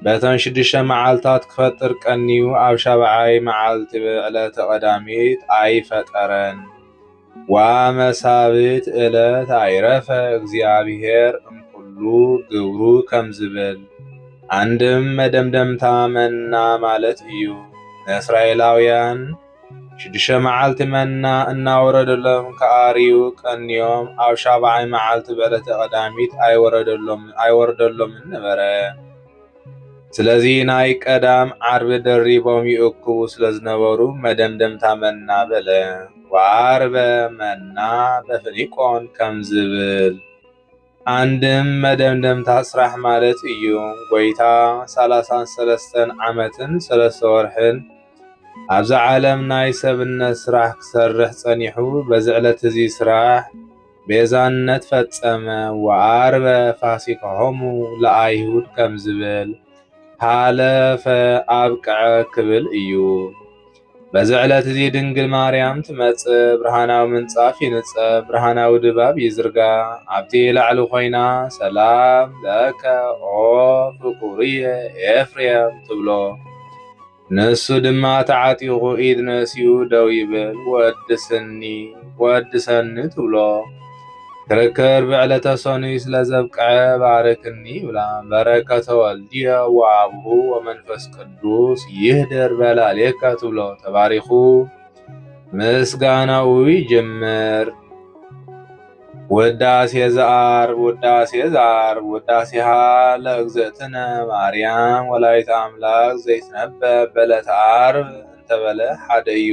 በተን ሽዱሽተ መዓልታት ክፈጥር ቀንዩ ኣብ ሻብዓይ መዓልቲ ብዕለተ ቀዳሚት ኣይፈጠረን። ዋመሳብት እለት ኣይረፈ እግዚኣብሔር እምኩሉ ግብሩ ከም ዝብል ኣንድም መደምደምታ መና ማለት እዩ። ንእስራኤላውያን ሽዱሽተ መዓልቲ መና እናወረደሎም ክኣርዩ ቀንዮም፣ ኣብ ሻብዓይ መዓልቲ በለተ ቀዳሚት ኣይወርደሎምን ነበረ። ስለዚ ናይ ቀዳም ዓርቢ ደሪቦም ይእክቡ ስለ ዝነበሩ መደምደምታ መና በለ። ወዓርበ መና በፍኒቆን ከም ዝብል ኣንድም መደምደምታ ስራሕ ማለት እዩ። ጎይታ ሰላሳን ሰለስተን ዓመትን ሰለስተ ወርሕን ኣብዛ ዓለም ናይ ሰብነት ስራሕ ክሰርሕ ጸኒሑ በዚ ዕለት እዚ ስራሕ ቤዛነት ፈጸመ ወኣርበ ፋሲካሆሙ ለኣይሁድ ከምዝብል ሃለፈ ኣብቀዐ ክብል እዩ። በዚ ዕለት እዚ ድንግል ማርያም ትመጽእ፣ ብርሃናዊ ምንጻፍ ይንጸፍ፣ ብርሃናዊ ድባብ ይዝርጋ። ኣብቲ ላዕሊ ኮይና ሰላም ለከ ኦ ፍቁርየ ኤፍሬም ትብሎ። ንሱ ድማ ተዓጢቑ ኢድ ነሲኡ ደው ይብል፣ ወድስኒ ወድሰኒ ትብሎ። ክርክር ብዕለተ ሰኑይ ስለ ዘብቅዐ ባርክኒ ይብላ። በረከተ ወልድየ ወአቡሁ ወመንፈስ ቅዱስ ቅዱስ ይህደር በላሌካ ትብሎ ተባሪኹ ምስጋናኡ ይጀምር። ውዳሴ ዘዓርብ ውዳሴ ዘዓርብ ውዳሴሃ ለእግዝእትነ ማርያም ወላዲተ አምላክ ዘይትነበብ በዕለተ ዓርብ እንተበለ ሓደ እዩ።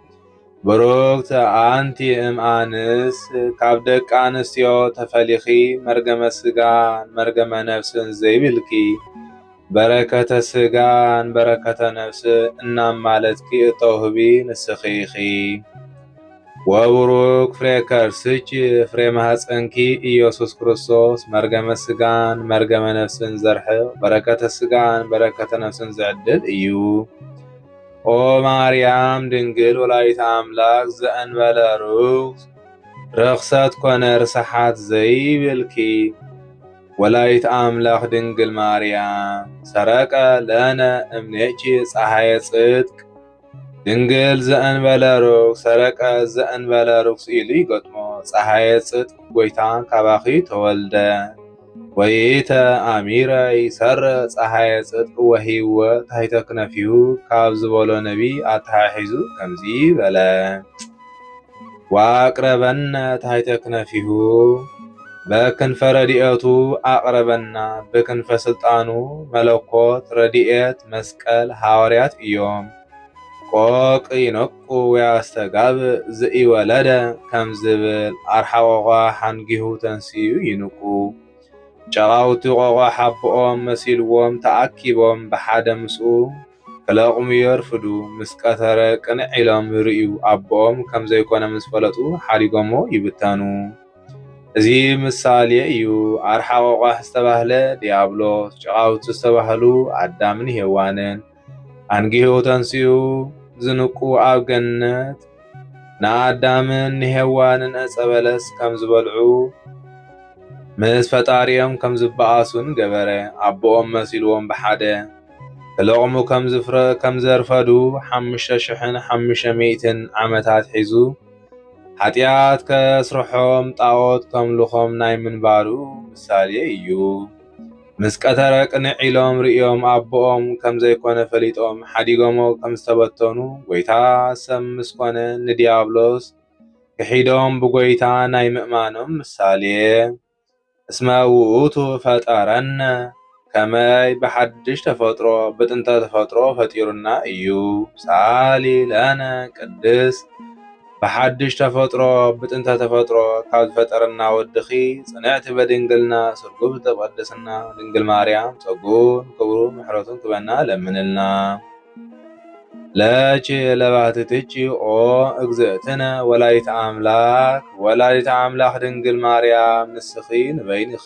ብርክት ኣንቲ እም ኣንስት ካብ ደቂ ኣንስትዮ ተፈሊኪ መርገመ ስጋን መርገመ ነብስን ዘይብልኪ በረከተ ስጋን በረከተ ነብስን እናማለትኪ እተውህቢ ንስኪ ኢኪ። ወቡሩክ ፍሬ ከርስኪ ፍሬ ማህፀንኪ ኢየሱስ ክርስቶስ መርገመ ስጋን መርገመ ነብስን ዘርሕቅ በረከተ ስጋን በረከተ ነብስን ዝዕድል እዩ። ኦ ማርያም ድንግል ወላዲተ ኣምላክ ዘእንበለ ርኩስ ርክሰት ኮነ ርስሓት ዘይብልኪ ወላዲት ኣምላክ ድንግል ማርያም ሰረቀ ለነ እምኔኪ ፀሐየ ጽድቅ ድንግል ዘእንበለ ርኩስ ሰረቀ ዘእንበለ ርኩስ ኢሉ ይገጥሞ ፀሐየ ጽድቅ ጎይታ ካባኺ ተወልደ ወኢተኣሚረ ይሰርእ ጸሓየ ጽድቅ ወሕይወት ታሕተ ክነፊሁ ካብ ዝበሎ ነቢይ ኣተሓሒዙ ከምዚ በለ፣ ወኣቅረበነ ታሕተ ክነፊሁ በክንፈ ረድኤቱ ኣቅረበና ብክንፈ ስልጣኑ መለኮት ረድኤት መስቀል ሃዋርያት እዮም። ቆቅ ይነቁ ወያስተጋብእ ዘኢወለደ ከም ዝብል ኣርሓቆቋ ሓንጊሁ ተንሲኡ ይንቁ። ጨቓውቲ ቆቋ ሓቦኦም መሲልዎም ተኣኪቦም ብሓደ ምስኡ ክለቕሙ የርፍዱ። ምስ ቀተረ ቅንዕ ኢሎም ይርእዩ ኣቦኦም ከም ዘይኮነ ምስ ፈለጡ ሓዲጎሞ ይብተኑ። እዚ ምሳልየ እዩ። ኣርሓቆቋ ዝተባህለ ድያብሎስ፣ ጨቓውቲ ዝተባህሉ ኣዳምን ሄዋንን። ኣንጊሁ ተንስኡ ዝንቁ ኣብ ገነት ንኣዳምን ንሄዋንን ዕፀ በለስ ከም ዝበልዑ ምስ ፈጣሪኦም ከም ዝበኣሱን ገበረ። ኣቦኦም መሲልዎም ብሓደ ክለቕሙ ከም ዘርፈዱ ሓሙሽተ ሽሕን ሓሙሽተ ሚእትን ዓመታት ሒዙ ኃጢኣት ከስርሖም ጣዖት ከምልኾም ናይ ምንባሩ ምሳሌ እዩ። ምስ ቀተረ ቅንዕ ኢሎም ርእዮም ኣቦኦም ከም ዘይኮነ ፈሊጦም ሓዲጎሞ ከም ዝተበተኑ ጎይታ ሰብ ምስ ኮነ ንድያብሎስ ክሒዶም ብጎይታ ናይ ምእማኖም ምሳሌ እስመ ውእቱ ፈጠረነ ከመይ ብሓድሽ ተፈጥሮ ብጥንተ ተፈጥሮ ፈጢሩና እዩ ሳሊ ለነ ቅድስት ብሓድሽ ተፈጥሮ ብጥንተ ተፈጥሮ ካብ ዝፈጠረና ወድኺ ጽንዕቲ በድንግልና ስርጉት ብቅድስና ድንግል ማርያም ጸጉኡን ክብሩን ምሕረቱን ክበና ለምንልና። ለቺ ለባህቲ ትቺ ኦ እግዝእትነ ወላዲተ ኣምላክ ወላዲተ ኣምላክ ድንግል ማርያም ንስኺ ንበይንኺ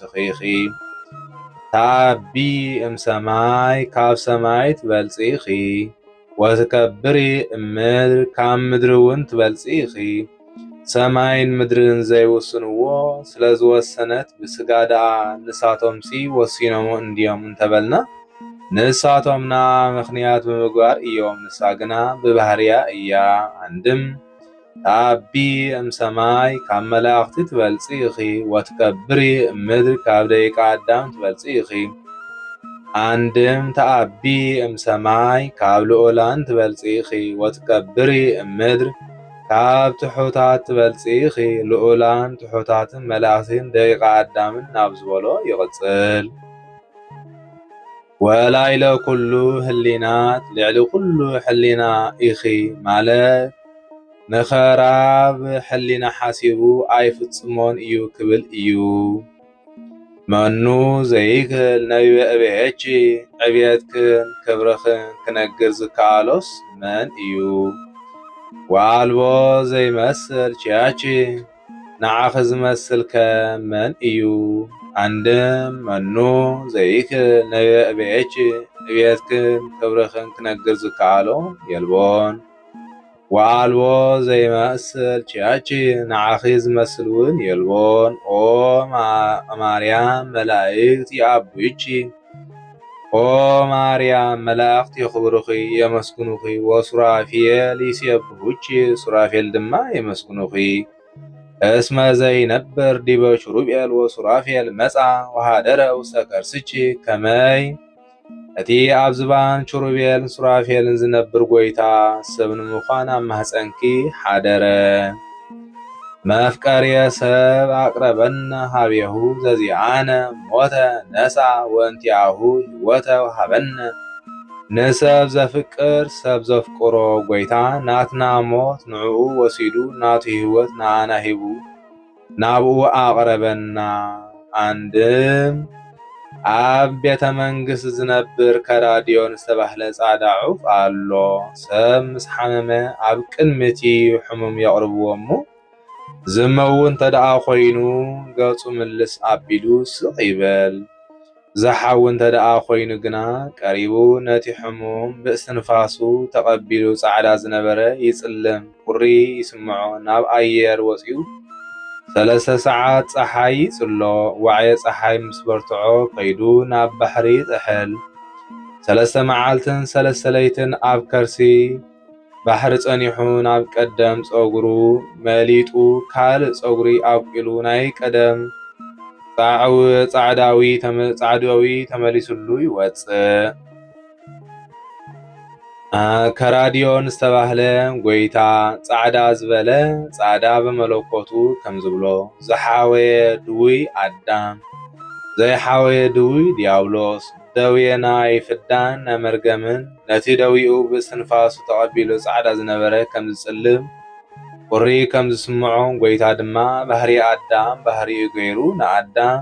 ትበልጽኺ ኢኺ ተዓቢ እም ሰማይ ካብ ሰማይ ትበልጺ ኢኺ ወትከብሪ እም ምድር ካብ ምድሪ እውን ትበልጺ ኢኺ ሰማይን ምድርን ዘይውስንዎ ስለ ዝወሰነት ብስጋ ደኣ ንሳቶምሲ ወሲኖም እንድዮም እንተበልና ንሳቶም ንኣ ምኽንያት ብምግባር እዮም ንሳ ግና ብባህርያ እያ ኣንድም ኣቢ እም ሰማይ ካብ መላእኽቲ ትበልጺ ኢኺ ወትከብሪ እም ምድር ካብ ደቂቀ ኣዳም ትበልጺ ኢኺ። ኣንድም ተኣቢ እም ሰማይ ካብ ልኡላን ትበልጺ ኢኺ ወትከብሪ እም ምድር ካብ ትሑታት ትበልጺ ኢኺ ልኡላን ትሑታትን መላእኽቲን ደቂቀ ኣዳምን ናብ ዝበሎ ይቕጽል። ወላይለ ኩሉ ህሊናት ልዕሊ ኩሉ ሕሊና ኢኺ ማለት ንኸራብ ሕሊና ሓሲቡ ኣይፍጽሞን እዩ ክብል እዩ። መኑ ዘይክል ነቢበ እቤኪ ዕብየትክን ክብርኽን ክነግር ዝከኣሎስ መን እዩ? ወኣልቦ ዘይመስል ቺያቺ ንዓኺ ዝመስል ከ መን እዩ? ኣንድም መኑ ዘይክል ንብኤች ንቤትክን ክብርኽን ክነግር ዝከኣሎ የልቦን። ወኣልቦ ዘይመስል ችያች ንዓኺ ዝመስል ውን የልቦን። ኦ እማርያም መላእክት ይኣቡይቺ። ኦ ማርያም መላእኽት የኽብሩኺ የመስግኑኺ ወሱራፊኤል ይሴብሑኪ ሱራፌል ድማ የመስግኑኺ እስመ ዘይነብር ዲበ ሹሩቤል ወሱራፌል መጻ ወሃደረ ውስተ ከርስኪ ከመይ እቲ ኣብ ዝባን ሹሩቤልን ሱራፌልን ዝነብር ጐይታ ሰብ ንምዃን ኣብ ማህፀንኪ ሓደረ። መፍቀርየ ሰብ ኣቅረበነ ኀቤሁ ዘዚኣነ ሞተ ነሣ ወእንቲኣሁ ሕይወተ ወሀበነ ንሰብ ዘፍቅር ሰብ ዘፍቅሮ ጐይታ ናትና ሞት ንዕኡ ወሲዱ ናቱ ሕይወት ንኣና ሂቡ ናብኡ ኣቅረበና ኣንድም ኣብ ቤተ መንግስት ዝነብር ከራዲዮን ዝተባህለ ጻዕዳ ዑፍ ኣሎ። ሰብ ምስ ሓመመ ኣብ ቅድሚ እቲ ሕሙም የቕርብዎ እሞ ዝመው እንተደኣ ኮይኑ ገጹ ምልስ ኣቢሉ ስቕ ይበል። ዝሓዊ እንተደኣ ኮይኑ ግና ቀሪቡ ነቲ ሕሙም ብእስትንፋሱ ተቐቢሉ ጻዕዳ ዝነበረ ይጽልም። ቁሪ ይስምዖ ናብ ኣየር ወጺኡ ሰለስተ ሰዓት ጸሓይ ይጽሎ ዋዕየ ጸሓይ ምስ በርትዖ ከይዱ ናብ ባሕሪ ይጥሕል ሰለስተ መዓልትን ሰለስተ ለይትን ኣብ ከርሲ ባሕሪ ጸኒሑ ናብ ቀደም ጸጉሩ መሊጡ ካልእ ጸጉሪ ኣብቂሉ ናይ ቀደም ጻዕዳዊ ተመሊስሉ ይወጽእ። ከራዲዮን ዝተባህለ ጐይታ ጻዕዳ ዝበለ ጻዕዳ ብመለኮቱ ከም ዝብሎ ዝሓወየ ድውይ ኣዳም ዘይሓወየ ድውይ ድያብሎስ ደዌና ይፍዳን ናይ መርገምን ነቲ ደዊኡ ብእስትንፋሱ ተቐቢሉ ጻዕዳ ዝነበረ ከም ዝጽልም ቁሪ ከም ዝስምዖ ጐይታ ድማ ባህሪ ኣዳም ባህሪኡ ገይሩ ንኣዳም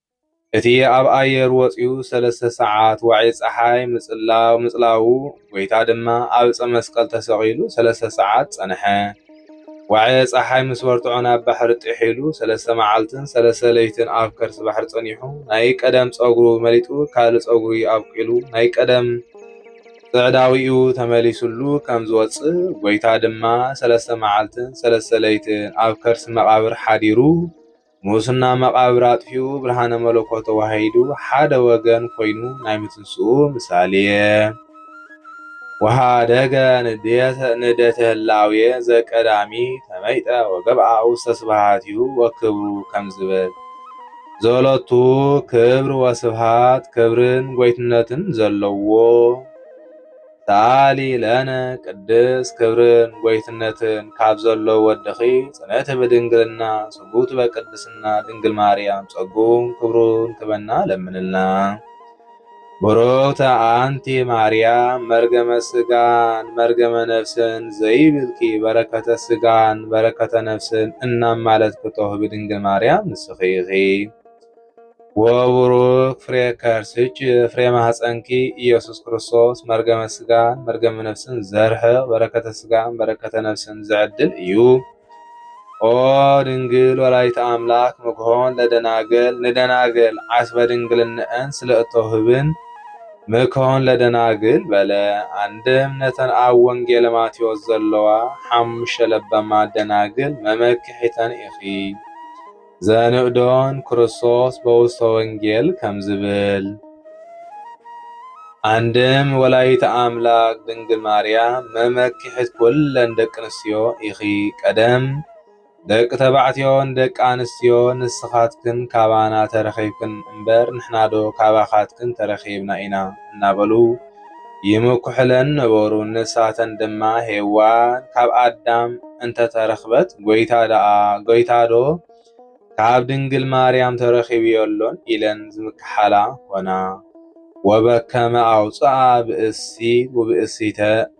እቲ ኣብ ኣየር ወጺኡ ሰለስተ ሰዓት ዋዒ ጸሓይ ምጽላው ምጽላዉ ጎይታ ድማ ኣብ ዕጸ መስቀል ተሰቒሉ ሰለስተ ሰዓት ጸንሐ። ዋዒ ጸሓይ ምስ በርትዖ ናብ ባሕሪ ጢሕ ኢሉ ሰለስተ መዓልትን ሰለስተ ለይትን ኣብ ከርሲ ባሕሪ ጸኒሑ ናይ ቀደም ጸጉሩ መሊጡ ካልእ ጸጉሪ ኣብቂሉ ናይ ቀደም ጽዕዳዊኡ ተመሊሱሉ ከም ዝወጽእ ጎይታ ድማ ሰለስተ መዓልትን ሰለስተ ለይትን ኣብ ከርሲ መቓብር ሓዲሩ ሙስና መቓብር ኣጥፊኡ ብርሃነ መለኮት ተዋሂዱ ሓደ ወገን ኮይኑ ናይ ምትንስኡ ምሳሌ ወሃደገ ንደተ ህላዌ ዘቀዳሚ ተመይጠ ወገብኣ ውስተ ስብሃትዩ ወክብሩ ከም ዝብል ዘሎቱ ክብር ወስብሃት ክብርን ጎይትነትን ዘለዎ ሰኣሊ ለነ ቅድስት ክብርን ጎይትነትን ካብ ዘሎ ወድኺ ጽንዕቲ ብድንግልና ስጉብቲ በቅድስና ድንግል ማርያም ጸጉን ክብሩን ክበና ለምንልና። ቡሩክተ አንቲ ማርያም መርገመ ስጋን መርገመ ነፍስን ዘይብልኪ በረከተ ስጋን በረከተ ነፍስን እናማለትኪ ተውህቢ ድንግል ማርያም ንስኺ ኢኺ። ወቡሩክ ፍሬ ከርስኪ ፍሬ ማህፀንኪ እየሱስ ክርስቶስ መርገመ ስጋን መርገመ ነፍስን ዘርሕቅ በረከተ ስጋን በረከተ ነፍስን ዘዕድል እዩ። ኦ ድንግል ወላዲተ ኣምላክ ምክሖን ለደናግል ንደናግል ዓስበ ድንግልነአን ስለ እተውህብን ምክሖን ለደናግል በለ። አንድም ነተን ኣብ ወንጌለ ማቴዎስ ዘለዋ ሓሙሽተ ለበማ ደናግል መመክሒተን ኢኺ። ዘንእዶን ክርስቶስ በውስተ ወንጌል ከም ዝብል ኣንድም ወላዲተ ኣምላክ ድንግል ማርያም መመኪሕት ኩለን ደቂ ኣንስትዮ ኢኺ ቀደም ደቂ ተባዕትዮን ደቂ ኣንስትዮ ንስኻትክን ካባና ተረኺብክን እምበር ንሕናዶ ካባኻትክን ተረኺብና ኢና እናበሉ ይምኩሕለን ነበሩ። ንሳተን ድማ ሄዋን ካብ ኣዳም እንተ ተረኽበት ጐይታ ደኣ ጐይታዶ ካብ ድንግል ማርያም ተረኺቡ የሎን ኢለን ዝምክሓላ ኰና። ወበከመ ኣውጽኣ ብእሲ ውብእሲተ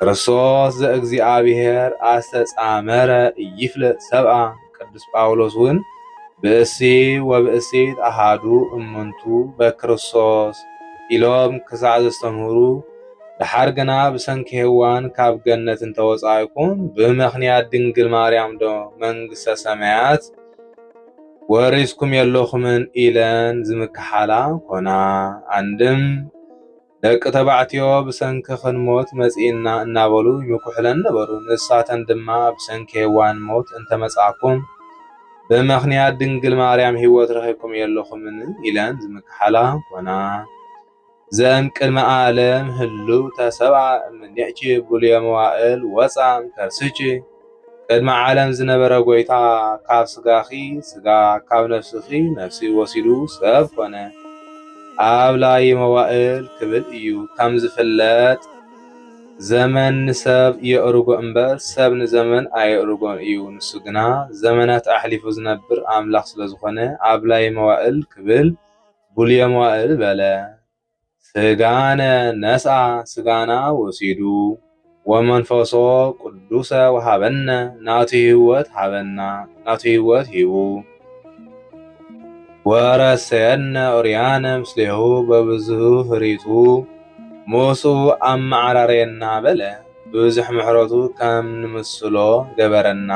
ክርስቶስ ዘእግዚኣብሔር ኣስተጻመረ ይፍለጥ ሰብኣ ቅዱስ ጳውሎስ እውን ብእሲ ወብእሲት ኣሃዱ እምንቱ በክርስቶስ ኢሎም ክሳዕ ዘስተምህሩ ደሓር ግና ብሰንኪ ሔዋን ካብ ገነት እንተወጻእኩም ብምኽንያት ድንግል ማርያም ዶ መንግሥተ ሰማያት ወሪስኩም የለኹምን ኢለን ዝምክሓላ ኮና። ኣንድም ደቂ ተባዕትዮ ብሰንኪ ክንሞት መጺእና እናበሉ ይምኩሑለን ነበሩ። ንሳተን ድማ ብሰንኪ ሄዋን ሞት እንተመጻእኩም ብምኽንያት ድንግል ማርያም ህይወት ረኺብኩም የለኹምን ኢለን ዝምክሓላ ኮና። ዘም ቅድመ ዓለም ህሉ ተሰብኣ እምኔኪ ብሉየ መዋእል ወፃ እምከርስኪ ቅድሚ ዓለም ዝነበረ ጐይታ ካብ ስጋኺ ስጋ ካብ ነፍስኺ ነፍሲ ወሲዱ ሰብ ኮነ። ኣብ ላይ መዋእል ክብል እዩ። ከም ዝፍለጥ ዘመን ንሰብ የእርጎ እምበር ሰብ ንዘመን ኣየእርጎን እዩ። ንሱ ግና ዘመናት ኣሕሊፉ ዝነብር ኣምላኽ ስለ ዝኾነ ኣብ ላይ መዋእል ክብል ብሉየ መዋእል በለ። ሥጋነ ነስኣ ሥጋና ወሲዱ ወመንፈሶ ቅዱሰ ወሃበነ ናቱ ሕይወት ሃበና ናቱ ሕይወት ሂቡ ወረሰየነ ኦርያነ ምስሌሁ በብዝሁ ህሪቱ ሞሱ ኣመዓራረየና በለ ብብዙሕ ምሕረቱ ከም ንምስሎ ገበረና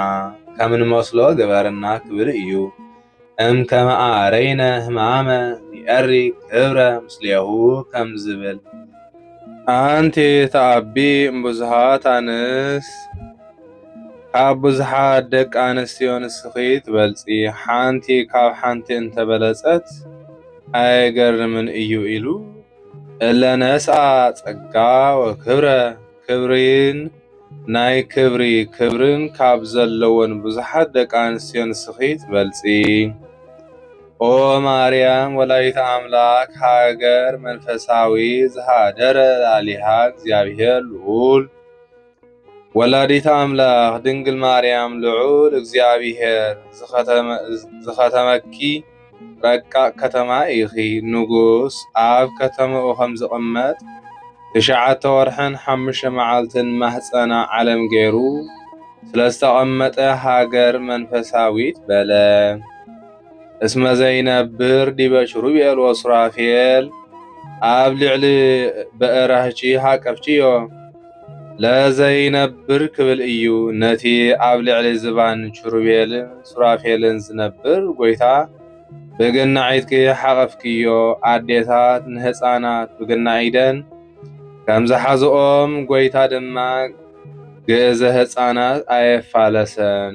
ከም ንመስሎ ገበረና ክብል እዩ። እምከመኣ ረይነ ህማመ ንኤሪ ክብረ ምስሌሁ ከም ዝብል ኣንቲ ተኣቢ እምብዙሃት ኣንስት ካብ ብዙሓት ደቂ ኣንስትዮ ንስኺ ትበልፂ ሓንቲ ካብ ሓንቲ እንተበለፀት ኣየገርምን እዩ ኢሉ እለ ነስኣ ፀጋ ወክብረ ክብሪን ናይ ክብሪ ክብሪን ካብ ዘለወን ብዙሓት ደቂ ኣንስትዮ ንስኺ ትበልጺ ኦ ማርያም ወላዲተ ኣምላክ ሃገር መንፈሳዊ ዝሃደረ ላሊሃ እግዚኣብሔር ልኡል ወላዲተ ኣምላክ ድንግል ማርያም ልዑል እግዚኣብሔር ዝኸተመኪ ረቃቕ ከተማ ኢኺ። ንጉስ ኣብ ከተማኡ ከም ዝቕመጥ ትሽዓተ ወርሕን ሓሙሽተ መዓልትን ማህጸና ዓለም ገይሩ ስለ ዝተቐመጠ ሃገር መንፈሳዊት በለ። እስመ ዘይነብር ዲበ ኪሩቤል ሱራፌል ኣብ ልዕሊ በእራህቺ ሃቀፍቺዮ። ለዘይነብር ክብል እዩ ነቲ ኣብ ልዕሊ ዝባን ኪሩቤልን ሱራፌልን ዝነብር ጐይታ ብገናዒትኪ ሓቐፍክዮ፣ ኣዴታት ንህጻናት ብገናዒደን ከም ዝሓዝኦም፣ ጐይታ ድማ ግእዘ ህጻናት ኣየፋለሰን።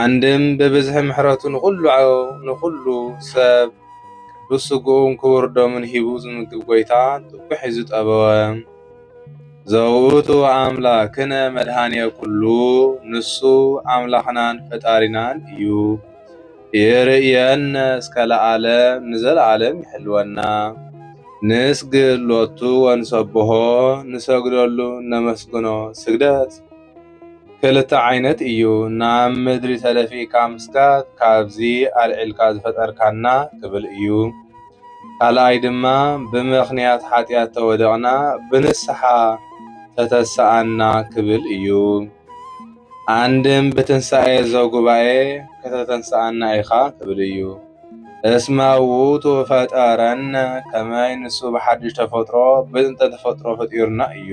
ኣንድም ብብዝሒ ምሕረቱ ንኹሉ ንኹሉ ሰብ ቅዱስ ስግኡን ክቡር ደሙን ሂቡ ዝምግብ ጎይታ ጥጉሒ ዝጠበወ ዘውእቱ ኣምላክነ መድኃኔ ኩሉ ንሱ ኣምላኽናን ፈጣሪናን እዩ። ይርእየነ እስከ ለዓለም ንዘለዓለም ይሕልወና። ንስግድ ሎቱ ወንሰብሖ ንሰግደሉ ነመስግኖ ስግደት ክልተ ዓይነት እዩ ናብ ምድሪ ተደፊእካ ምስጋድ ካብዚ ኣልዒልካ ዝፈጠርካና ክብል እዩ። ካልኣይ ድማ ብምኽንያት ሓጢኣት ተወደቕና ብንስሓ ተተሰኣና ክብል እዩ። ኣንድም ብትንሣኤ ዘጉባኤ ከተተንስኣና ኢኻ ክብል እዩ። እስመ ውእቱ ፈጠረነ ከመይ ንሱ ብሓድሽ ተፈጥሮ ብጥንተ ተፈጥሮ ፈጢሩና እዩ።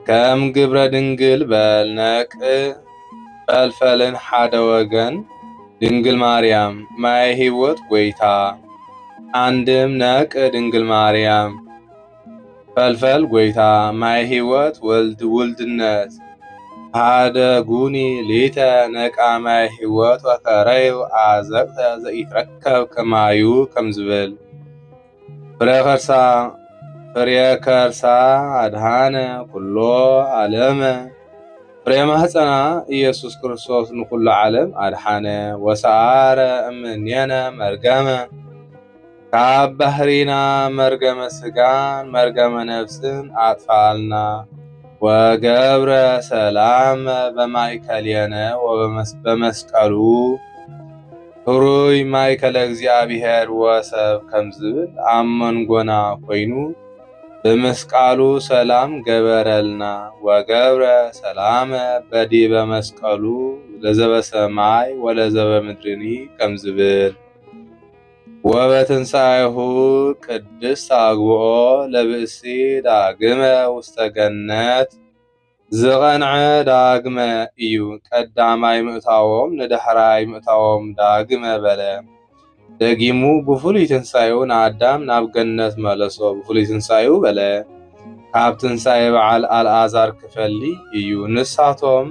ከም ግብረ ድንግል በል ነቅ ፈልፈልን ሓደ ወገን ድንግል ማርያም ማየ ሕይወት ጐይታ አንድም ነቅ ድንግል ማርያም ፈልፈል ጐይታ ማየ ሕይወት ወልድ ውልድነት ሓደ ጉኒ ሊተ ነቃ ማየ ሕይወት ወከረዩ አዘቅተ ዘኢትረከብ ከማዩ ከም ዝብል ፍሬ ከርሳ ፍሬ ከርሳ ኣድሃነ ኩሎ ዓለመ ፍሬ ማህፀና ኢየሱስ ክርስቶስ ንኩሉ ዓለም ኣድሓነ ወሰዓረ እምኔነ መርገመ ካብ ባህሪና መርገመ ስጋን መርገመ ነፍስን ኣጥፋኣልና ወገብረ ሰላም በማእከሌነ ወበመስቀሉ ሕሩይ ማእከለ እግዚኣብሔር ወሰብ ከም ዝብል ኣብ መንጎና ኮይኑ ብምስቃሉ ሰላም ገበረልና ወገብረ ሰላመ በዲበ መስቀሉ ለዘበሰማይ ወለዘበምድርኒ ከም ዝብል ወበትንሣኤሁ ቅድስት አግብኦ ለብእሲ ዳግመ ውስተ ገነት ዝቐንዐ ዳግመ እዩ ቀዳማይ ምእታዎም ንዳሕራይ ምእታዎም ዳግመ በለ። ደጊሙ ብፍሉይ ትንሣኤኡ ንኣዳም ናብ ገነት መለሶ ብፍሉይ ትንሣኤኡ በለ። ካብ ትንሣኤ በዓል ኣልኣዛር ክፈሊ እዩ። ንሳቶም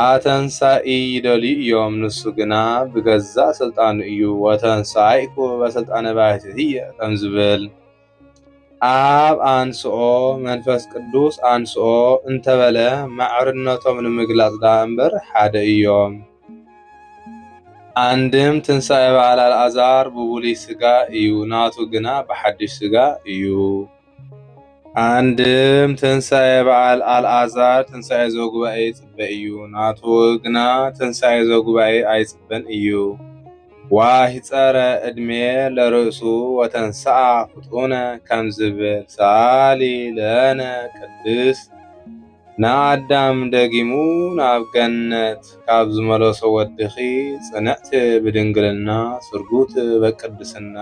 ኣተንሣኢ ይደልዩ እዮም፣ ንሱ ግና ብገዛእ ሥልጣኑ እዩ ወተንሣኢኩ በሥልጣነ ባሕቲትየ ከም ዝብል ኣብ ኣንስኦ መንፈስ ቅዱስ ኣንስኦ እንተበለ ማዕርነቶም ንምግላፅ ደኣ እምበር ሓደ እዮም። ኣንድም ትንሣኤ በዓል ኣልዓዛር ብብሉይ ሥጋ እዩ ናቱ ግና ብሓድሽ ሥጋ እዩ። ኣንድም ትንሣኤ በዓል ኣልዓዛር ትንሣኤ ዘጉባኤ ይጽበ እዩ ናቱ ግና ትንሣኤ ዘጉባኤ ኣይጽበን እዩ። ዋሂጸረ እድሜ ለርእሱ ወተንሥኣ ፍጡነ ከም ዝብል ሰኣሊ ለነ ቅድስት ንኣዳም ደጊሙ ናብ ገነት ካብ ዝመለሶ ወድኺ ጽንዕት ብድንግልና ስርጉት በቅድስና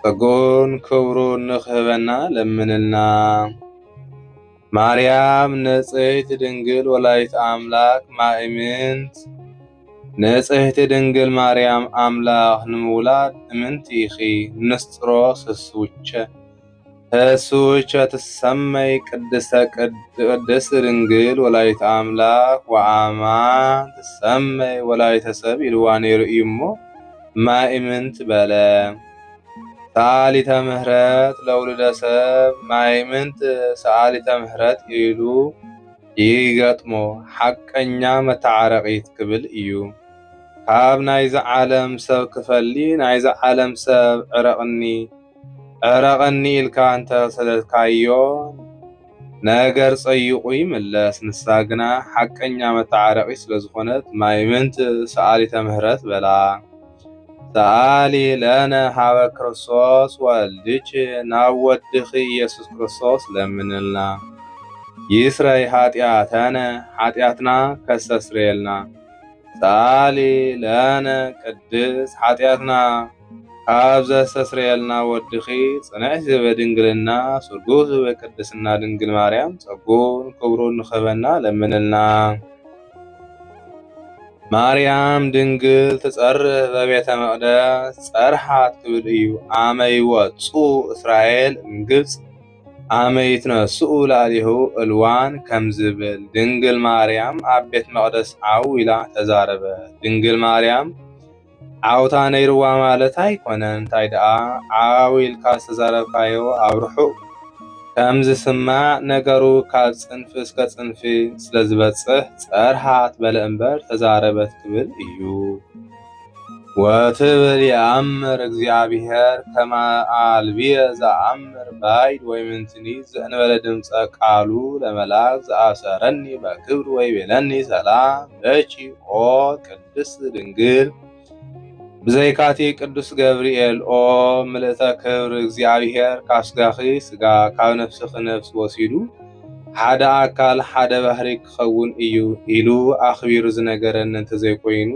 ጸግኡን ክብሩን ንክህበና ለምንልና። ማርያም ንጽሕቲ ድንግል ወላዲት ኣምላክ ማእምንት ንጽሕቲ ድንግል ማርያም ኣምላክ ንምውላድ እምንቲ ኢኪ ንስጥሮስ ህስውቸ ህስውቸ ትሰመይ ቅድስተ ቅድስት ድንግል ወላዲት ኣምላክ ወኣማን ትሰመይ ወላዲተ ሰብ ኢልዋ ነይሩ እዩሞ ማእምንት በለ ሰኣሊተ ምህረት ለውሉደ ሰብ ማይምንት ሰኣሊተ ምህረት ኢሉ ይገጥሞ ሓቀኛ መተዓረቒት ክብል እዩ። ካብ ናይዚ ዓለም ሰብ ክፈሊ ናይዚ ዓለም ሰብ ዕረቕኒ ዕረቐኒ ኢልካ እንተ ሰደድካዮ ነገር ጸይቑ ይምለስ። ንሳ ግና ሓቀኛ መተዓረቒት ስለ ዝኾነት ማይምንት ሰኣሊተ ምህረት በላ። ሰኣሊ ለነ ሀበ ክርስቶስ ወልድኪ ናብ ወድኺ ኢየሱስ ክርስቶስ ለምንልና ይስረይ ኃጢአተነ ኃጢአትና ከስተስርየልና ሰኣሊ ለነ ቅድስ ኃጢአትና ካብ ዘስተስርየልና ወድኺ ጽንዕት ዝበ ድንግልና ስርጉ ዝበ ቅድስና ድንግል ማርያም ጸጉን ክብሩን ንኸበና ለምንልና ማርያም ድንግል ትጸርህ በቤተ መቕደስ ጸርሓት ክብል እዩ። ኣመ ይወጽኡ እስራኤል እምግብጽ ኣመ ይትነስኡ ላዕሌሁ እልዋን ከም ዝብል ድንግል ማርያም ኣብ ቤት መቕደስ ዓው ኢላ ተዛረበት። ድንግል ማርያም ዓውታ ነይርዋ ማለት ኣይኮነን እንታይ ደኣ ዓው ኢልካ ዝተዛረብካዮ ኣብ ርሑቕ ከም ዝስማዕ ነገሩ ካብ ጽንፊ እስከ ጽንፊ ስለ ዝበጽሕ ጸርሃት በለ እምበር ተዛረበት ክብል እዩ ወትብል የኣምር እግዚኣብሔር ከመ ኣልብየ ዘኣምር ባይድ ወይምንትኒ ዘእንበለ ድምፀ ቃሉ ለመላክ ዘኣሰረኒ በክብር ወይቤለኒ ሰላም ለኪ ኦ ቅድስት ቅድስት ድንግል ብዘይካቲ ቅዱስ ገብርኤል ኦ ምልእተ ክብር እግዚኣብሔር ካብ ስጋኺ ስጋ ካብ ነፍስኺ ነፍስ ወሲዱ ሓደ ኣካል ሓደ ባህሪ ክኸውን እዩ ኢሉ ኣኽቢሩ ዝነገረኒ እንተዘይኮይኑ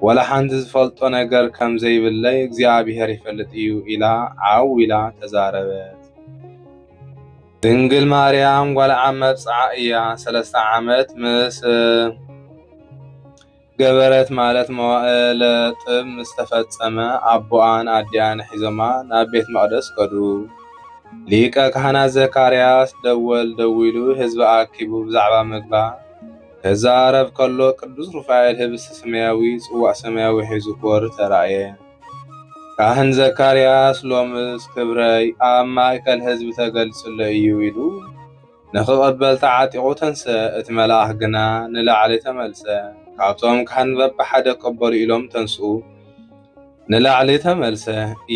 ወላ ሓንቲ ዝፈልጦ ነገር ከም ዘይብለይ እግዚኣብሔር ይፈልጥ እዩ ኢላ ዓው ኢላ ተዛረበት። ድንግል ማርያም ጓል ዓም መብጽዓ እያ ሰለስተ ዓመት ምስ ገበረት ማለት መዋእለ ጥብ ምስ ተፈጸመ ኣቦኣን ኣዲኣን ሒዞማ ናብ ቤት መቕደስ ከዱ። ሊቀ ካህናት ዘካርያስ ደወል ደዊሉ ህዝቢ ኣኪቡ ብዛዕባ ምግባ ከዛረብ ከሎ ቅዱስ ሩፋኤል ህብስቲ ሰማያዊ ጽዋእ ሰማያዊ ሒዙ ክወርድ ተራእየ። ካህን ዘካርያስ ሎምስ ክብረይ ኣብ ማእከል ህዝቢ ተገልጽሎ እዩ ኢሉ ንኽቕበል ተዓጢቑ ተንስአ፣ እቲ መልኣኽ ግና ንላዕሊ ተመልሰ። ካብቶም ካህን በብሓደ ቅበሉ ኢሎም ተንስኡ፣ ንላዕሊ ተመልሰ።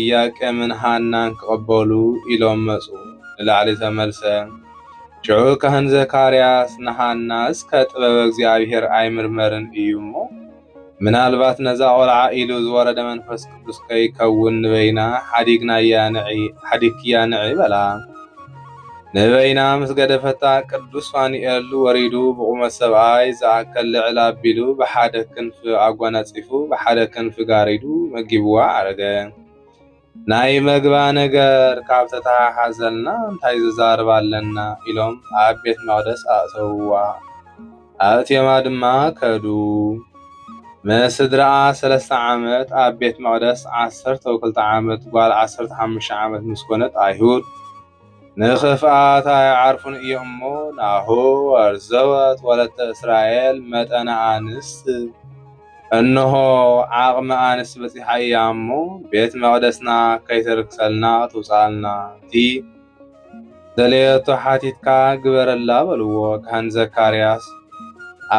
ኢያቄምን ሃናን ክቕበሉ ኢሎም መጹ፣ ንላዕሊ ተመልሰ። ሽዑ ካህን ዘካርያስ ንሃና እስከ ጥበበ እግዚኣብሔር ኣይምርመርን እዩ እሞ ምናልባት ነዛ ቆልዓ ኢሉ ዝወረደ መንፈስ ቅዱስ ከይከውን ንበይና ሓዲግክያ ንዒ በላ። ንበይና ምስ ገደፈታ ቅዱስ ፋኑኤል ወሪዱ ብቑመት ሰብኣይ ዝኣከል ልዕል ኣቢሉ ብሓደ ክንፊ ኣጓናጺፉ ብሓደ ክንፊ ጋሪዱ መጊብዋ ኣረገ። ናይ መግባ ነገር ካብ ተተሓሓዘልና እንታይ ዝዛርብ ኣለና ኢሎም ኣብ ቤት መቕደስ ኣእተውዋ። ኣብ ቴማ ድማ ከዱ። ምስ ስድራኣ ሰለስተ ዓመት ኣብ ቤት መቕደስ ዓሰርተው ክልተ ዓመት ጓል ዓሰርተ ሓሙሽተ ዓመት ምስ ኮነት ኣይሁድ ንኽፍኣት ኣይዓርፉን እዮም እሞ ናሁ ኣርዘወት ወለተ እስራኤል መጠነ ኣንስት እንሆ ዓቕሚ ኣንስት በፂሓ እያ እሞ ቤት መቕደስና ከይተርክሰልና ትውፅኣልና እቲ ደለየቶ ሓቲትካ ግበረላ በልዎ ካህን ዘካርያስ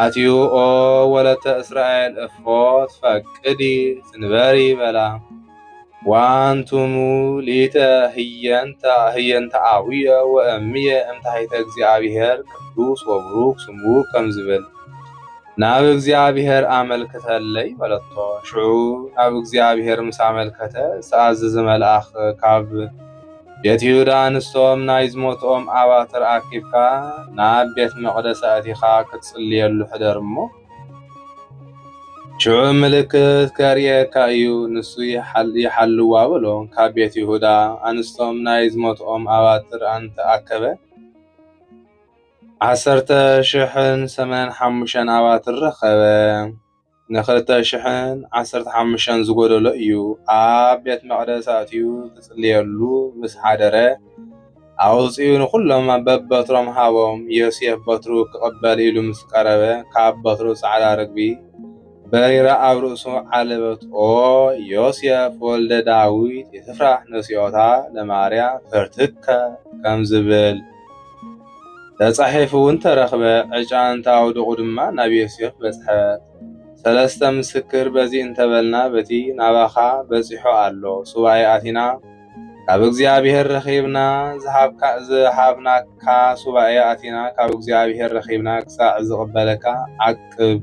ኣትዩ ኦ ወለተ እስራኤል እፎ ትፈቅዲ ትንበሪ በላ ወኣንትሙ ሊተ ህየንተ ህየንተ ኣቡየ ወእምየ እም ታሕተ እግዚኣብሔር ቅዱስ ወቡሩክ ስሙ ከም ዝብል ናብ እግዚኣብሔር ኣመልክተለይ በለቶ። ሽዑ ናብ እግዚኣብሔር ምስ ኣመልከተ ዝተኣዘዘ መልኣኽ ካብ ቤት ይሁዳ ኣንስቶም ናይ ዝሞትኦም ኣባትር ኣኪብካ ናብ ቤት መቕደስ ኣእቲኻ ክትጽልየሉ ሕደር እሞ ሽዑ ምልክት ከርእየካ እዩ፣ ንሱ ይሓልዋ በሎ። ካብ ቤት ይሁዳ ኣንስቶም ናይ ዝሞትኦም ኣባትር ኣንተ ኣከበ፣ ዓሰርተ ሽሕን ሰመን ሓሙሽተን ኣባትር ረኸበ። ንክልተ ሽሕን ዓሰርተ ሓሙሽተን ዝጎደሎ እዩ። ኣብ ቤት መቕደስ ኣእትዩ ክጽልየሉ ምስ ሓደረ፣ ኣውጺኡ ንኹሎም በበትሮም ሃቦም። ዮሴፍ በትሩ ክቕበል ኢሉ ምስ ቀረበ፣ ካብ በትሩ ጻዕዳ ርግቢ በሪራ ኣብ ርእሱ ዓለበት። ኦ ዮሴፍ ወልደ ዳዊት ኢትፍራህ ነሲኦታ ለማርያም ፍርትከ ከም ዝብል ተጻሒፉ እውን ተረኽበ። ዕጫ እንተ ኣውድቑ ድማ ናብ ዮሴፍ በጽሐት። ሰለስተ ምስክር በዚ እንተበልና በቲ ናባኻ በጺሑ ኣሎ፣ ሱባኤ ኣቲና፣ ካብ እግዚኣብሔር ረኺብና ዝሃብናካ ሱባኤ ኣቲና ካብ እግዚኣብሔር ረኺብና ክሳዕ ዝቕበለካ ዓቅብ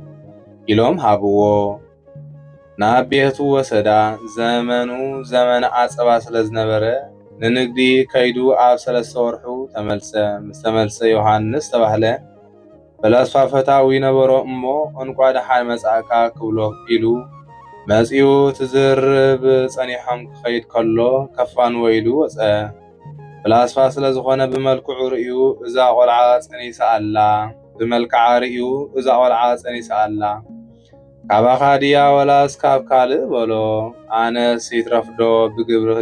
ኢሎም ሃብዎ ናብ ቤቱ ወሰዳ ዘመኑ ዘመን ዓጸባ ስለ ዝነበረ ንንግዲ ከይዱ ኣብ ሰለስተ ወርሑ ተመልሰ ምስተመልሰ ዮሃንስ ተባህለ ፈላስፋ ፈታዊ ነበሮ እሞ እንቋ ደሓን መጻእካ ክብሎ ኢሉ መጺኡ ትዝርብ ጸኒሖም ክኸይድ ከሎ ከፋንዎ ኢሉ ወጸ። ፍላስፋ ስለ ዝኾነ ብመልክዑ ርእዩ እዛ ቆልዓ ጸኒሳ ኣላ ብመልክዓ ርእዩ እዛ ቆልዓ ጸኒሳ ኣላ ካባኻ ድያ ወላስ ካብ ካልእ በሎ ኣነስ ይትረፍዶ ብግብሪ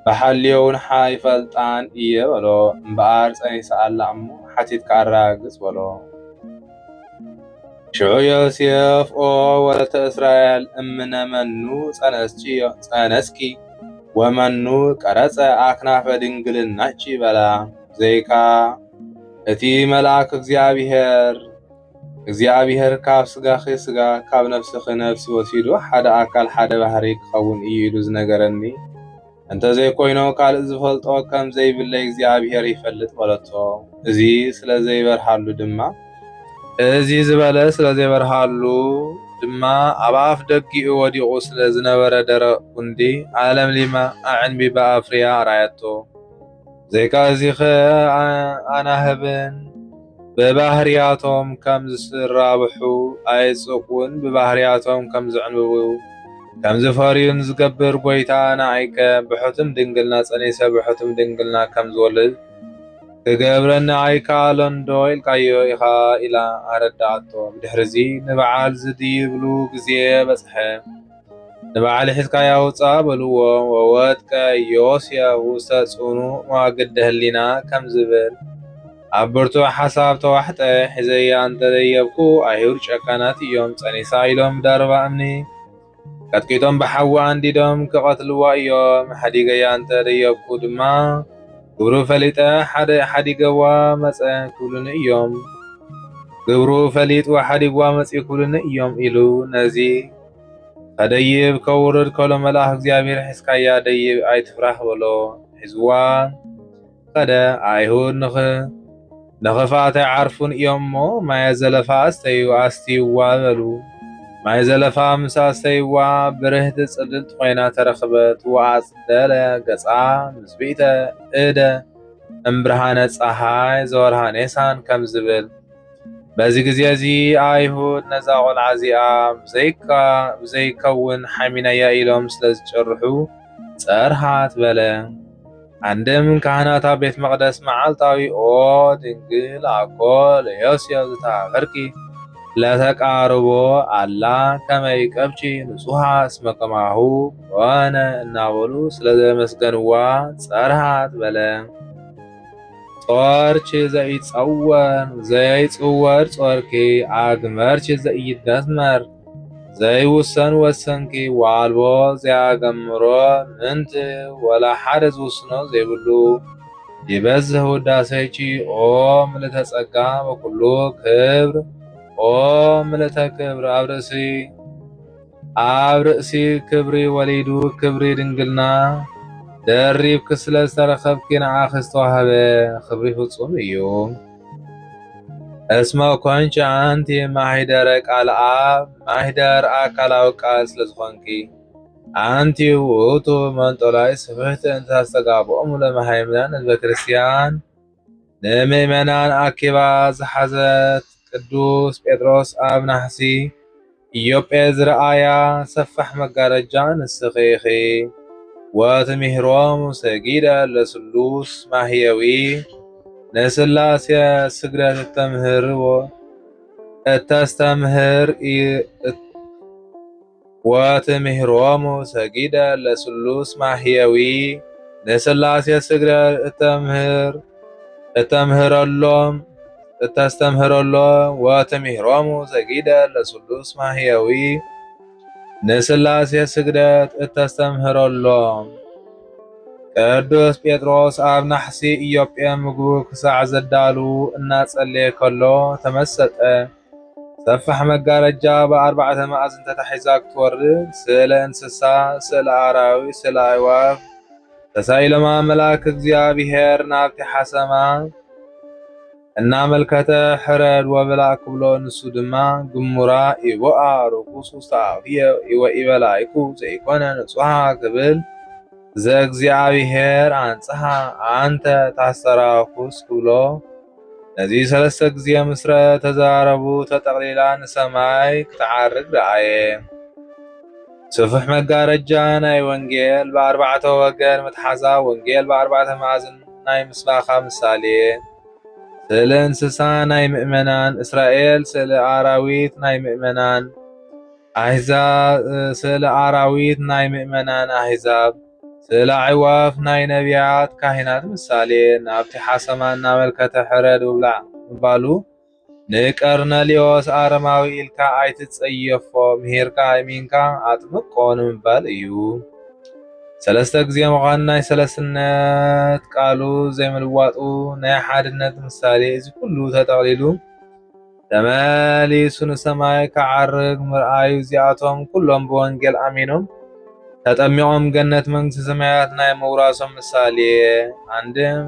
ብሓልዮውን ሓይፈልጣን እየ በሎ። እምበኣር ጸኒሳ ኣላ እሞ ሓቲትካ ኣረጋግጽ በሎ። ሽዑ ዮሴፍ ኦ ወለተ እስራኤል እምነ መኑ ጸነስኪ ወመኑ ቀረጸ ኣክናፈ ድንግልናኪ በላ። ዘይካ እቲ መልኣክ እግዚኣብሔር እግዚኣብሔር ካብ ስጋኺ ስጋ ካብ ነፍስኺ ነፍሲ ወሲዱ ሓደ ኣካል ሓደ ባህሪ ክኸውን እዩ ኢሉ ዝነገረኒ እንተዘይኮይኑ ካልእ ዝፈልጦ ከም ዘይብለይ እግዚኣብሔር ይፈልጥ በለቶ። እዚ ስለ ዘይበርሃሉ ድማ እዚ ዝበለ ስለ ዘይበርሃሉ ድማ ኣብ ኣፍ ደጊኡ ወዲቑ ስለ ዝነበረ ደረቕ ጉንዲ ኣለምሊማ ኣዕንቢባ ኣፍርያ ኣርኣየቶ። ዘይካዚኸ ኣናህብን ብባህርያቶም ከም ዝራብሑ ኣይጽቁን ብባህርያቶም ከም ዝዕንብቡ ከም ዝፈርዩን ዝገብር ጐይታ ንኣይከ ብሕቱም ድንግልና ጸኒሰ ብሕቱም ድንግልና ከም ዝወልድ ክገብረኒ ኣይከኣሎንዶ ኢልካዮ ኢኻ ኢላ ኣረዳኣቶ። ብድሕርዚ ንበዓል ዝድይብሉ ግዜ በጽሐ። ንበዓል ሕዝቃይ ኣውጽኣ በልዎ ወወድቀ ዮስየ ውስተ ጽኑዕ መዋግደ ህሊና ከም ዝብል ኣብ ብርቱዕ ሓሳብ ተዋሕጠ። ሒዘያ እንተ ደየብኩ ኣይሁድ ጨካናት እዮም፣ ጸኒሳ ኢሎም ብደርባ እምኒ ቀጥቂጦም ብሓዊ ኣንዲዶም ክቐትልዋ እዮም። ሓዲገያ እንተ ደየብኩ ድማ ግብሩ ፈሊጠ ሓዲገዋ መጸ ክብሉኒ እዮም ግብሩ ፈሊጥዋ ሓዲግዋ መጺኡ ክብሉኒ እዮም ኢሉ ነዚ ከደይብ ከውርድ ከሎ መልኣኽ እግዚኣብሔር ሒዝካያ ደይብ ኣይትፍራህ በሎ። ሒዝዋ ከደ ኣይሁድ ንኽ ንኽፍኣት ኣይዓርፉን እዮም እሞ ማየ ዘለፋ ኣስተዩ ኣስትይዋ በሉ። ማይ ዘለፋ ምስ ኣስተይዋ ብርህቲ ጽልልቲ ኮይና ተረኽበት ወኣጽደለ ገጻ ምስ ብኢተ እደ እምብርሃነ ጸሓይ ዘወርሃ ኔሳን ከም ዝብል በዚ ግዜ እዚ ኣይሁድ ነዛ ቈልዓ እዚኣ ብዘይከውን ሓሚናያ ኢሎም ስለ ዝጭርሑ ጸርሃት በለ። ኣንድም ካህናት ኣብ ቤት መቕደስ መዓልታዊ ኦ ድንግል ኣኮ ለዮስዮ ዝተሃፈርኪ ለተቃርቦ ኣላ ከመይ ቀብቺ ንጹሃ እስመ ከማሁ ኮነ እናበሉ ስለ ዘመስገንዋ ጸርሃት በለ። ጾርኪ ዘይጸወር ዘይጽወር ጾርኪ ኣግመርኪ ዘይደመር ዘይውሰን ወሰንኪ ዋልቦ ዘያገምሮ ምንቲ ወላ ሓደ ዝውስኖ ዘይብሉ ይበዝህ ውዳሴኪ ኦ ምልእተ ጸጋ ወኩሉ ክብር ኦ ምልእተ ክብር ኣብ ርእሲ ኣብ ርእሲ ክብሪ ወሊዱ ክብሪ ድንግልና ደሪብኪ ስለ ዝተረኸብኪ ንዓኺ ዝተዋህበ ክብሪ ፍጹም እዩ። እስመ ኮንቺ ኣንቲ ማሂደረ ቃል ኣብ ማሂደር ኣካላዊ ቃል ስለ ዝኾንኪ ኣንቲ ውእቱ መንጦላይ ስፍሕቲ እንተ ኣስተጋብኦም ለመሃይምናን ህዝበ ክርስቲያን ንምእመናን ኣኪባ ዝሓዘት ቅዱስ ጴጥሮስ ኣብ ናሕሲ ኢዮጴ ዝረኣያ ሰፋሕ መጋረጃ ንስኺ ኢኺ። ወትምህሮም ሰጊደ ለስሉስ ማህየዊ ንስላሴ ስግደት እተምህርዎ እተስተምህር ወትምህሮሙ ሰጊደ ለስሉስ ማህየዊ ንስላሴ ስግደ እተምህር እተምህረሎም እተስተምህረሎም ወትምህሮሙ ሰጊደ ለስሉስ ማህየዊ ንስላሴ ስግደት እተስተምህረሎም ቅዱስ ጴጥሮስ ኣብ ናሕሲ ኢዮጴ ምግቡ ክሳዕ ዘዳሉ እናጸለየ ከሎ ተመሰጠ። ሰፋሕ መጋረጃ ብኣርባዕተ መኣዝን ተታሒዛ ክትወርድ፣ ስእለ እንስሳ፣ ስእለ ኣራዊት፣ ስእለ ኣዕዋፍ ተሳኢሎም ኣምላክ እግዚኣብሄር ናብቲ ሓሰማ እናመልከተ ሕረድ ወብላዕ ክብሎ ንሱ ድማ ግሙራ ኢቦኣ ርኩስ ውስተ ኣፍየ ወኢበላይኩ ዘይኮነ ንጹሃ ክብል ዘእግዚኣብሄር ኣንጽሃ ኣንተ ታስተራኩስ ክብሎ ነዚ ሰለስተ ግዜ ምስ ረኣ ተዛረቡ ተጠቕሊላ ንሰማይ ክትዓርግ ረኣየ። ስፍሕ መጋረጃ ናይ ወንጌል ብኣርባዕተ ወገን መትሓዛ ወንጌል ብኣርባዕተ መኣዝን ናይ ምስባኻ ምሳሌ ስእሊ እንስሳ ናይ ምእመናን እስራኤል ስእሊ ኣራዊት ናይ ምእመናን ኣሕዛብ ስእሊ ኣራዊት ናይ ምእመናን ኣሕዛብ ስእለ ኣዕዋፍ ናይ ነቢያት ካህናት ምሳሌ ናብቲ ሓሰማ እናመልከተ ሕረድ ውብላዕ ምባሉ ንቀርነልዮስ ኣረማዊ ኢልካ ኣይትጸየፎ ምሂርካ ኣይሚንካ ኣጥምቆ ንምባል እዩ። ሰለስተ ግዜ ምዃን ናይ ሰለስነት ቃሉ ዘይምልዋጡ ናይ ሓድነት ምሳሌ እዚ ኩሉ ተጠቕሊሉ ተመሊሱ ንሰማይ ክዓርግ ምርኣዩ እዚኣቶም ኩሎም ብወንጌል ኣሚኖም ተጠሚቖም ገነት መንግስቲ ሰማያት ናይ ምውራሶም ምሳሌ ኣንድም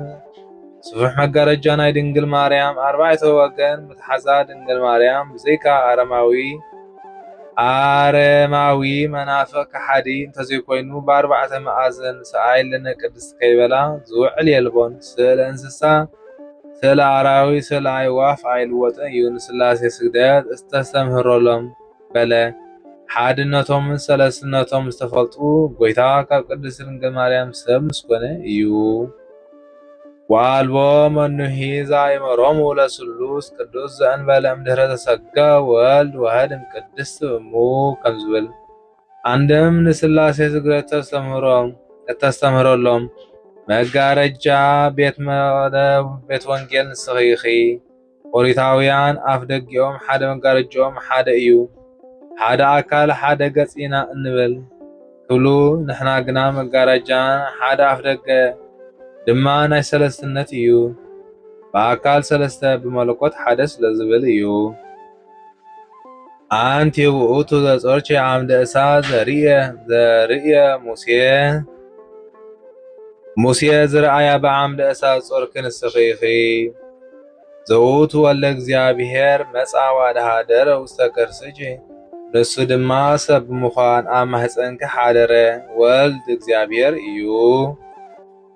ስፉሕ መጋረጃ ናይ ድንግል ማርያም ኣርባዕተ ወገን ምትሓዛ ድንግል ማርያም ብዘይካ ኣረማዊ ኣረማዊ መናፍቕ ከሓዲ እንተዘይኮይኑ ብኣርባዕተ መኣዝን ሰኣይለነ ቅድስት ከይበላ ዝውዕል የልቦን ስእለ እንስሳ ስእለ ኣራዊት ስእለ ኣዕዋፍ ኣይልወጥን እዩ ንስላሴ ስግደት እስተስተምህሮሎም በለ ሓድነቶምን ሰለስትነቶም ዝተፈልጡ ጎይታ ካብ ቅድስት ድንግል ማርያም ሰብ ምስኮነ እዩ ወኣልቦ መኑሂ ዛይመሮሙ ለስሉስ ቅዱስ ዘእንበለ እምድህረ ተሰጋ ወልድ ዋህድ እምቅድስት እሙ ከምዝብል ኣንድም ንስላሴ ስግደት ተስተምህሮም እተስተምህረሎም መጋረጃ ቤት መቕደብ ቤት ወንጌል ንስኺ ኢኺ። ኦሪታውያን ኣፍ ደጊኦም ሓደ መጋረጅኦም ሓደ እዩ፣ ሓደ ኣካል ሓደ ገጽ ኢና እንብል ክብሉ ንሕና ግና መጋረጃን ሓደ ኣፍ ደገ ድማ ናይ ሰለስትነት እዩ፣ ብኣካል ሰለስተ ብመለኮት ሓደ ስለዝብል እዩ። ኣንቲ ውእቱ ዘጾርኪ ዓምደ እሳት ዘርእየ ሙሴ ሙሴ ዝረኣያ ብዓምደ እሳት ጾርኪ ንስኺ ኢኺ። ዘውቱ ወልደ እግዚኣብሔር መጻ ዋድሃደረ ውስተ ከርስኪ ንሱ ድማ ሰብ ብምዃን ኣብ ማሕፀንኪ ሓደረ ወልድ እግዚኣብሔር እዩ።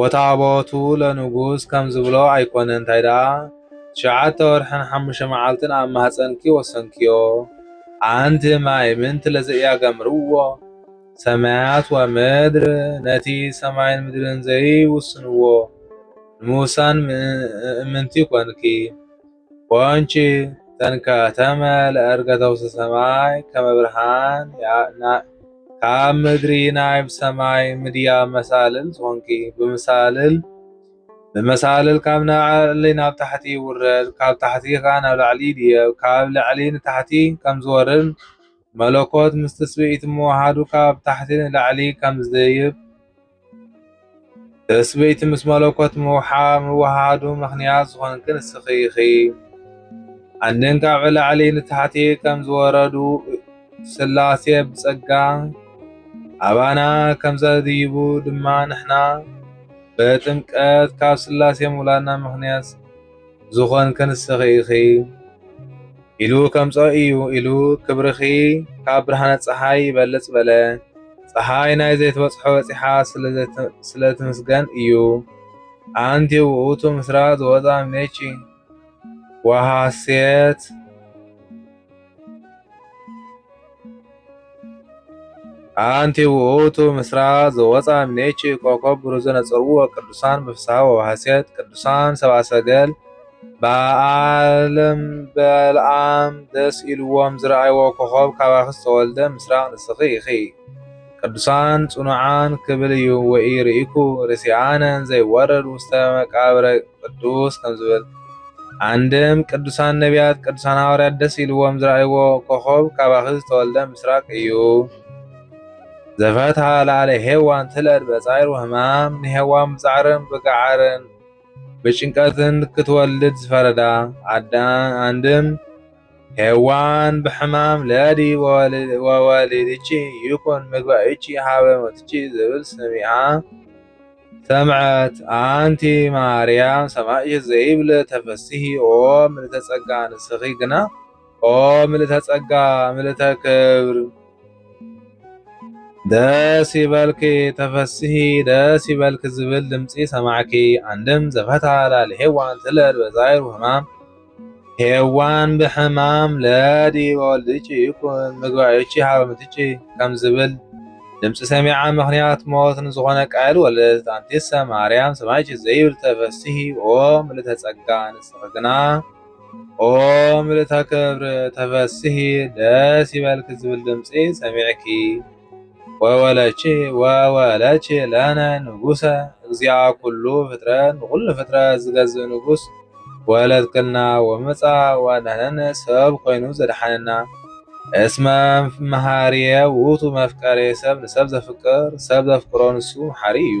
ወታቦቱ ለንጉስ ከም ዝብሎ ኣይኮነን እንታይ ደኣ ትሽዓተ ወርሕን ሓሙሽተ መዓልትን ኣብ ማህጸንኪ ወሰንክዮ ኣንቲ ማይ ምንቲ ለዘኢያገምርዎ ሰማያት ወምድር ነቲ ሰማይን ምድርን ዘይውስንዎ ንምውሳን ምእምንቲ ኮንኪ ወንጪ እተን ከተመ ለእርገተው ውስተ ሰማይ ከመ ብርሃን ካብ ምድሪ ናብ ሰማይ ምድያብ መሳልል ዝኾንኪ ብመሳልል ብመሳልል ካብ ላዕሊ ናብ ታሕቲ ይውረድ ካብ ታሕቲ ከኣ ናብ ላዕሊ ይድየብ ካብ ላዕሊ ንታሕቲ ከም ዝወርድ መለኮት ምስ ትስብእቲ ምውሃዱ ካብ ታሕቲ ንላዕሊ ከም ዝድይብ ትስብእቲ ምስ መለኮት ምውሓዱ ምኽንያት ዝኾንኪ ንስኺ ኢኺ። ኣንድን ካብ ላዕሊ ንታሕቲ ከም ዝወረዱ ሥላሴ ብጸጋ ኣባና ከም ዘድይቡ ድማ ንሕና ብጥምቀት ካብ ሥላሴ ምውላድና ምኽንያት ዝኾንኪ ንስኺ ኢኺ። ኢሉ ከምጾ እዩ ኢሉ ክብርኺ ካብ ብርሃነ ፀሓይ ይበልፅ በለ። ፀሓይ ናይ ዘይትበፅሖ በፂሓ ስለትምስገን እዩ። ኣንቲ ውእቱ ምስራ ዝወፃ ምኔቺ ወሃሴት ኣንቲ ውእቱ ምስራቅ ዘወፃ እምኔኪ ኮከብ ብሩህ ዘነጸርዎ ቅዱሳን ብፍስሃ ወበሐሴት ቅዱሳን ሰብአ ሰገል በዓለም በልዓም ደስ ኢልዎም ዝረኣይዎ ኮኸብ ካባኺ ዝተወልደ ምስራቅ ንስኺ ኢኺ። ቅዱሳን ጽኑዓን ክብል እዩ ወኢ ርኢኩ ርሲኣነን ዘይወረድ ውስተ መቃብረ ቅዱስ ከም ዝብል ኣንድም ቅዱሳን ነቢያት ቅዱሳን ሃዋርያት ደስ ኢልዎም ዝረኣይዎ ኮኾብ ካባኺ ዝተወልደ ምስራቅ እዩ ዘፈትሃ ላዕለ ሄዋን ትለድ በጻይር ወህማም ንሄዋን ብጻዕርን ብጋዓርን ብጭንቀትን ክትወልድ ዝፈረዳ ኣንድም ሔዋን ብሕማም ለዲ ወወሊድኪ ይኩን ምግባይኪ ሀበ ሞትኪ ዝብል ሰሚዓ ሰምዐት ኣንቲ ማርያም ሰማይኪ ዘይብል ተፈስሂ ኦ ምልእተ ጸጋ ንስኪ ግና ኦ ምልእተ ጸጋ ምልእተ ክብር ደስ ይበልኪ ተፈስሂ ደስ ይበልኪ ዝብል ድምፂ ሰማዕኪ ኣንድም ዘፈታ ላል ሄዋን ትለድ በዛይሩ ህማም ሄዋን ብሕማም ለዲ ወልድቺ ይኩን ምግባዮቺ ሃበ ምትቺ ከም ዝብል ድምፂ ሰሚዓ ምክንያት ሞት ንዝኾነ ቃየል ወለደት ኣንቲሰ ማርያም ሰማይቺ ዘይብል ተፈስሂ ኦ ምልእተ ጸጋ ንስኺ ግና ኦ ምልእተ ክብሪ ተፈስሂ ደስ ይበልኪ ዝብል ድምፂ ሰሚዕኪ ወወለቺ ወወለቺ ለነ ንጉሰ እግዚኣ ኩሉ ፍጥረት ንኩሉ ፍጥረት ዝገዝእ ንጉስ ወለድክልና ወመፃ ዋዳነነ ሰብ ኮይኑ ዘድሓነና እስመ መሃርየ ውእቱ መፍቀሬ ሰብ ንሰብ ዘፍቅር ሰብ ዘፍቅሮ ንሱ መሓሪ እዩ።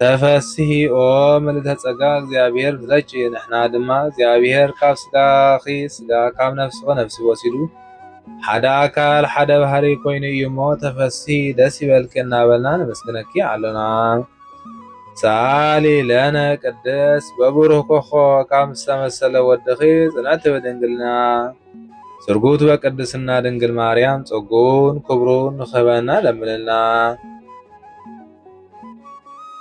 ተፈስሂ ኦ ምልእተ ጸጋ እግዚኣብሔር ብዘጭ ንሕና ድማ እግዚኣብሔር ካብ ስጋኺ ስጋ ካብ ነፍስኺ ነፍሲ ወሲዱ ሓደ ኣካል ሓደ ባህሪ ኮይኑ እዩ እሞ ተፈስሂ ደስ ይበልኪ እናበልና ነመስግነኪ ኣሎና። ሰኣሊ ለነ ቅድስ በብሩህ ኮኾ ካብ ዝተመሰለ ወድኺ ጽንዕቲ ብድንግልና ስርጉት በቅድስና ድንግል ማርያም ጸጉን ክብሩን ንኸበና ለምንልና።